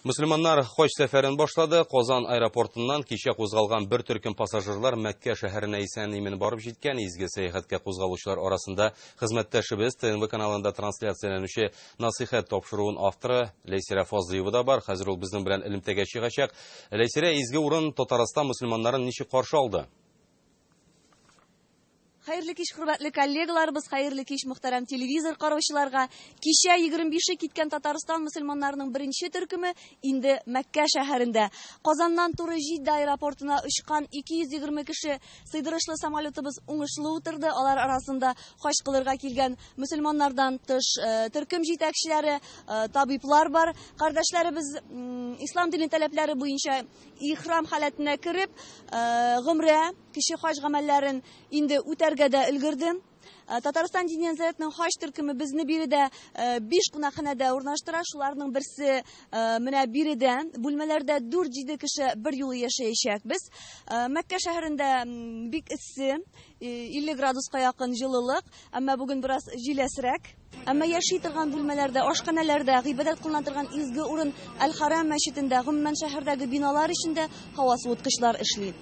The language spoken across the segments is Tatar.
Мөселманнар хаҗ сәфәрен башлады. Казан аэропортыннан кичә кузгалган бер төркем пассажирлар Мәккә шәһәренә исән-имин барып җиткән. Изге сәяхәткә кузгалучылар арасында хезмәттәшебез ТНВ каналында трансляцияләнүче Насыйхәт тапшыруын авторы Ләйсирә Фазлыева да бар. Хәзер ул безнең белән элемтәгә чыгачак. Ләйсирә, изге урын Татарстан мөселманнарын ничек каршы алды? Хәерле кич, хөрмәтле коллегаларыбыз, хәерле кич, мөхтәрәм телевизор караучыларга. Кичә 25-е киткән Татарстан мөселманнарының беренче төркеме инде Мәккә шәһәрендә. Казаннан туры Җиддә аэропортына очкан 220 кеше сыйдырышлы самолетыбыз уңышлы утырды. Алар арасында хаҗ кылырга килгән мөселманнардан тыш, төркем җитәкчеләре, табиблар бар. Кардәшләребез ислам дине таләпләре буенча ихрам халәтенә кереп, гомрә Кече хаҗ гамәлләрен инде үтәргә дә өлгердем. Э, Татарстан дини нәзарәтенең хаҗ төркеме безне биредә э, биш кунакханәдә урнаштыра. Шуларның берсе э, менә биредә. Бүлмәләрдә 4-7 кеше бер юлы яшәячәкбез. Мәккә шәһәрендә бик эссе, 50 градуска якын җылылык, әмма бүген бераз җиләсрәк. Әмма яши торган бүлмәләрдә, ашханәләрдә, гыйбадәт кылына торган изге урын Әл-Хәрам мәчетендә, гомумән шәһәрдәге биналар эчендә һава суыткычлар эшли.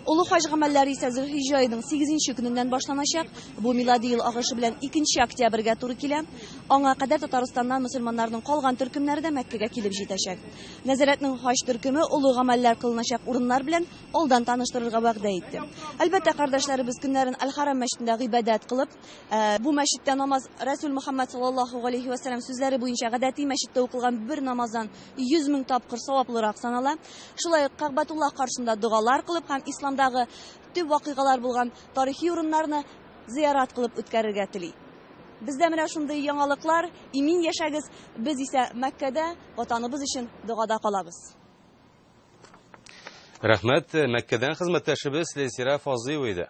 Олы хаҗ гамәлләре исә Зөлхиҗҗә аеның сигезенче көненнән башланачак. Бу милади ел агышы белән икенче октябрьгә туры килә. Аңа кадәр Татарстаннан мөселманнарның калган төркемнәре дә Мәккәгә килеп җитәчәк. Нәзарәтнең хаҗ төркеме олы гамәлләр кылыначак урыннар белән алдан таныштырырга вәгъдә итте. Әлбәттә, кардәшләребез көннәрен Әл-Хәрам мәчетендә гыйбадәт кылып, Ә, бу мәчеттә намаз Рәсүл Мөхәммәд саллаллаһу галәйһи ва сәлләм сүзләре буенча гадәти мәчеттә укылган бер намаздан 100 мең тапкыр саваплырак санала. Шулай ук Кәгъбәтуллаһ каршында догалар кылып һәм исламдагы төп вакыйгалар булган тарихи урыннарны зыярат кылып үткәрергә тели. Бездә менә шундый яңалыклар, имин яшәгез, без исә Мәккәдә ватаныбыз өчен догада калабыз. Рәхмәт, Мәккәдән хезмәттәшебез Ләйсирә Фазыева иде.